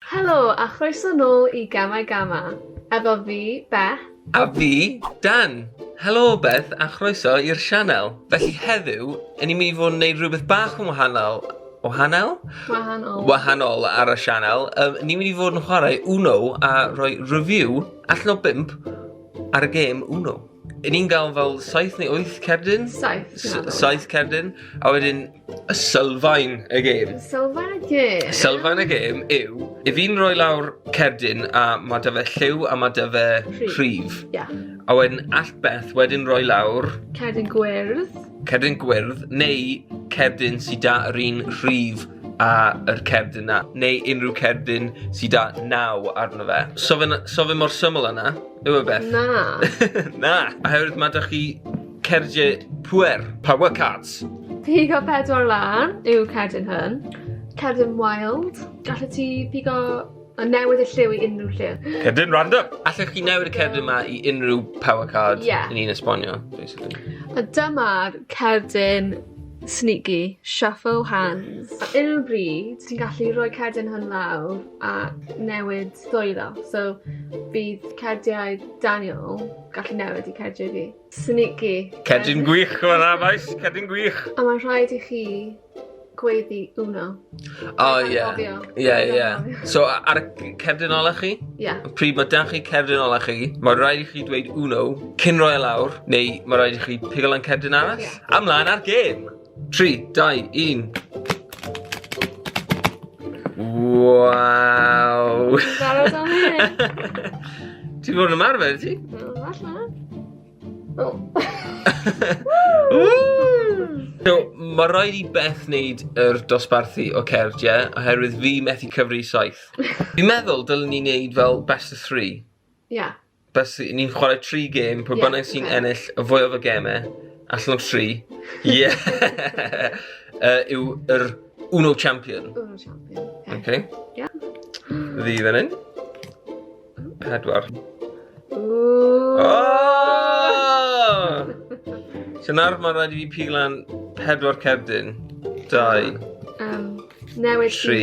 Helo a chroeso nôl i Gamau Gama, efo fi, Beth. A fi, Dan! Helo Beth a chroeso i'r sianel. Felly heddiw, yn ni'n mynd i fod yn neud rhywbeth bach yn wahanol, wahanol? Wahanol. Wahanol ar y sianel. Um, ni'n mynd i fod yn chwarae Uno a rhoi review allan o bimp ar y gêm Uno. Yn ni'n gael fel 7 neu 8 cerdyn? 7. 7 cerdyn. A wedyn, y sylfaen y gêm. Sylfaen y gêm? Sylfaen y gêm yw, i fi'n rhoi lawr cerdyn a mae da fe lliw a mae da fe rhif. Yeah. A wedyn all Beth wedyn rhoi lawr... Cerdyn gwyrdd. Cerdyn gwyrdd, neu cerdyn sydd da yr un rhif a yr cerdyn na, neu unrhyw cerdyn sydd da naw arno fe. So fe, so fe mor syml yna. Yw e Beth? Na. Na. Oherwydd ma' 'da chi cerdie pŵer. Power cards. Pigo pedwar lan yw cerdyn hwn. Cerdyn wild. Gallet ti pigo a newid y lliw i unrhyw lle. Cerdyn random. Allech chi newid y cerdyn ma i unrhyw power card yeah. ni'n esbonio, basically. A dyma'r cerdyn sneaky, shuffle hands. A unrhyw bryd, ti'n gallu rhoi cerdyn hwn lawr a newid llwyddo. So bydd cardiau Daniel gallu newid i cardiau fi. Sneaky. Cerdyn gwych o yna, boys. Cerdyn gwych. A mae'n rhaid i chi gweiddi uno. O, ie. Ie, ie. So, ar y cerdyn ola chi? Ie. Yeah. Pryd mae dan chi cerdyn ola chi, mae rhaid i chi dweud uno cyn roi e lawr, neu mae rhaid i chi pigo lan cerdyn arall. Yeah. Amlaen ar gêm! 3, 2, 1. Waw! Barod am hyn? Ti'n fod yn ymarfer, ti? Wel, falle. O. So, mae rhaid i Beth wneud yr dosbarthu o cerdd, ie? Oherwydd fi methu cyfri saith. Fi'n meddwl dylwn ni wneud fel best of three. Ia. bys ni'n chwarae tri gêm, pwy bynnag yeah, sy'n okay. ennill y fwyaf o gemau, allan o tri, ie, uh, yw yr Uno Champion. Uno Champion. Oce. Okay. Yeah. Ddi fan hyn. Pedwar. Ooh. Oh! so nawr mae'n rhaid i fi piglan pedwar cerdyn. Dau. Um, newid tri.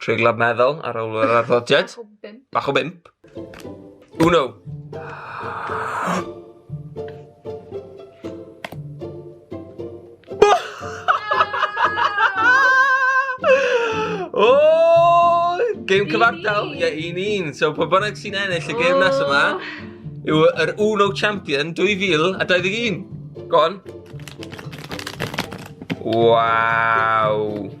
Treiglad meddwl ar ôl yr arddodiad. Bach o bimp. Bach o bimp. Uno. o! Game cyfartal, ie, un un. So, pa bynnag sy'n ennill y game nes yma, yw yr Uno Champion 2021. Go on. Wow.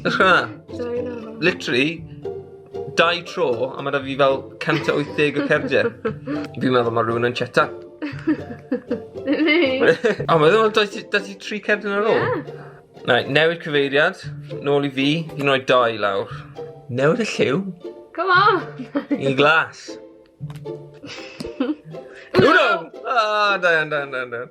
Ych chi hwnna? Literally, dau tro, a mae da fi fel 180 o cerdiau. Fi'n meddwl mae rhywun yn cheta. O, mae ddim yn da ti tri cerdyn ar ôl? Ie. Na, newid cyfeiriad, nôl i fi, un o'i dau lawr. Newid y lliw? Come on! I glas. Uno! Ah, da iawn, da iawn, da iawn.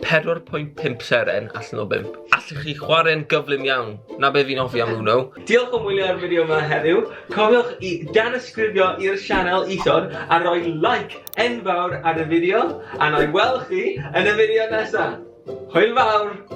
4.5 seren allan o 5. Allwch chi chwarae'n gyflym iawn. Na be fi'n offi am Uno. Diolch o wylio ar fideo yma heddiw. Cofiwch i danysgrifio i'r sianel isod a rhoi like enfawr ar y fideo. A na i weld chi yn y fideo nesaf. Hwyl fawr!